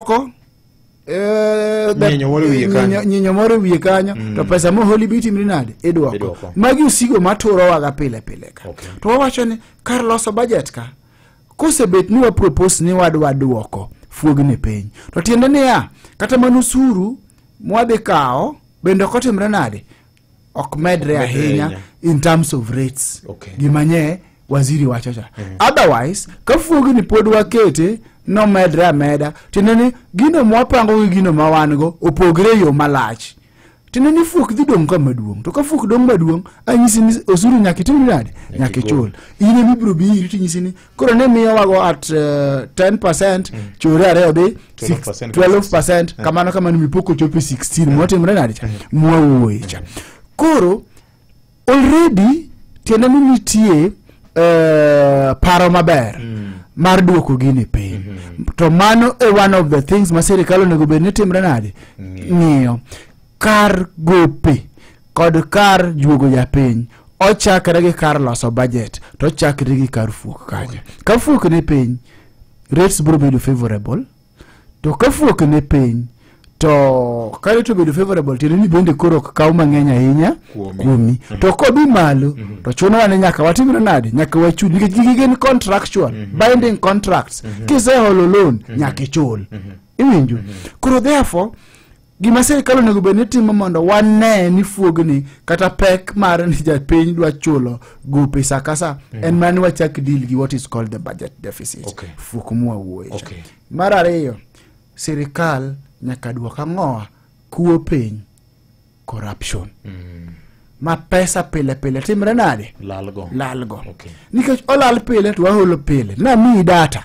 moko eh, da- Nyinyo moro e wiye kanyo. nyinyo- nyinyo moro e wiye kanyo to pesa moholi be itimri nade idwoko Idwoko. magi osigo maturowaga pile pile ka Okay. to wawacho ni kar loso bajet ka kosebet ni wapropos ni wadwa dwoko fuogni piny to tiende niya kata mana usuru mwadhi kawo bende ok otimre nade ok medre ahinya ahinya. in terms of rates Okay. gima nye waziri wacho cha otherwise ka fuogi ni pod wakete nomedre ameda tiende ni gino mwapango gi gino ma wan go opogre e yo malach tiende ni fuok dhi dong' ka maduong' to ka fuok dong' maduong' anyisi ni osuru nyaka itim nade nyaka ichul in emibiro biri tinyisi ni koro ne miyowago at uh, 10 percent mm. chore ariyo dhi 12 percent eh. kamano kamano mipoko chopi 16 eh. mwatimre nadi cha eh. mwawuoye cha koro already tiende ni nitie uh, paro maber mm. mar duoko gini piny mm -hmm. to mano e one of the things ma sirikal onego bed ni timre nadi mm. ng'iyo mm. kar gope kod kar juogo japiny ochakre gi kar loso budget to ochakre gi kar fuok kanyo ka fuok ni piny rates biro bedo favorable to ka fuok ni piny to ka rate obedo favorable tiende ni bende koro ok kaw mang'eny ahinya Kuomi. kuomi to kodhi malo to chuno wane nyaka watimre nade nyaka wachud nikech gigi gin contractual binding contracts kiseholo loan nyaka ichul iwinjo koro therefore Gima sirkal onego bed ni timo mondo wane ni fuogni kata pek mar ni japiny dwa chulo gope sa ka sa mm. en mana ni wachak deal gi what is called the budget deficit okay. fuok mwawuoye okay. mar ariyo sirkal nyaka dwok ang'owa kuo piny corruption mm. ma pesa pile pile timre nade lalgo, lalgo. Okay. nikech olal pile to waholo pile namiyi data